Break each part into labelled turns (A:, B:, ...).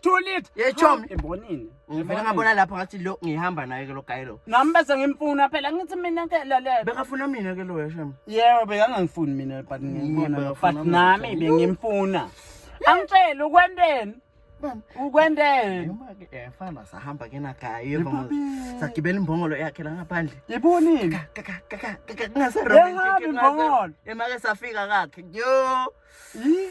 A: Too
B: late. Ye
A: chom.
B: Hamba Embonini.
A: Ngivele ngabona lapho
B: ngathi lo ngihamba naye ke lo guy lo. Nami bese ngimfuna
A: phela ngithi mina ke lalela. Bekafuna mina ke lo
B: yashem. Yebo bekangangifuni
A: mina but ngiyibona lo. bekafuna But mina. nami bengimfuna. Angitshele ukwenteni? Bam. Ukwenteni? Yima ke efana
B: sahamba ke na guy yebo. Babe. Sagibela imbongolo yakhe la ngaphandle. Yibonile.
A: Kaka
B: kaka kaka kaka ngase Yehamba imbongolo. Emake
A: safika
B: kakhe. Yo. Yii.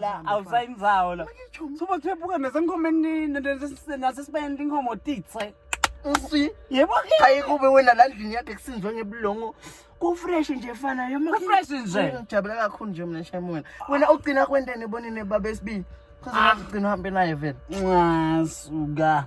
B: la awusayindzawo
A: la soba kuthephuka nasenkhomeni nasesibayeni tinkhomo titse nsi
B: yebo ke hayi
A: kube wena
B: la ndlini yakhe kusinzwe ngebulongo kufresh nje fana yoma kufresh nje ngijabula
A: kakhulu nje mina
B: shem wena wena ugcina kwentene bonini baba esibili kuzona ugcina uhambe naye vele nxasuka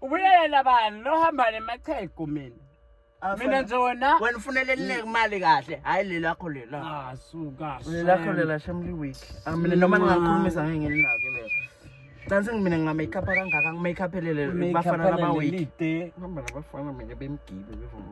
B: ubuyelela
A: bani lohamba nemachegu mina mina nje wena wena ufunele elineke imali
B: kahle hayi lelakho lela ah suka lelakho
A: lela shamli
B: week ah, mina noma ningakhulumisa ngeke nginake mina Dansi mina nginga make up kangaka ngi make up elele bafana laba week. Ngihamba nabafana mina bemgibe bevuma.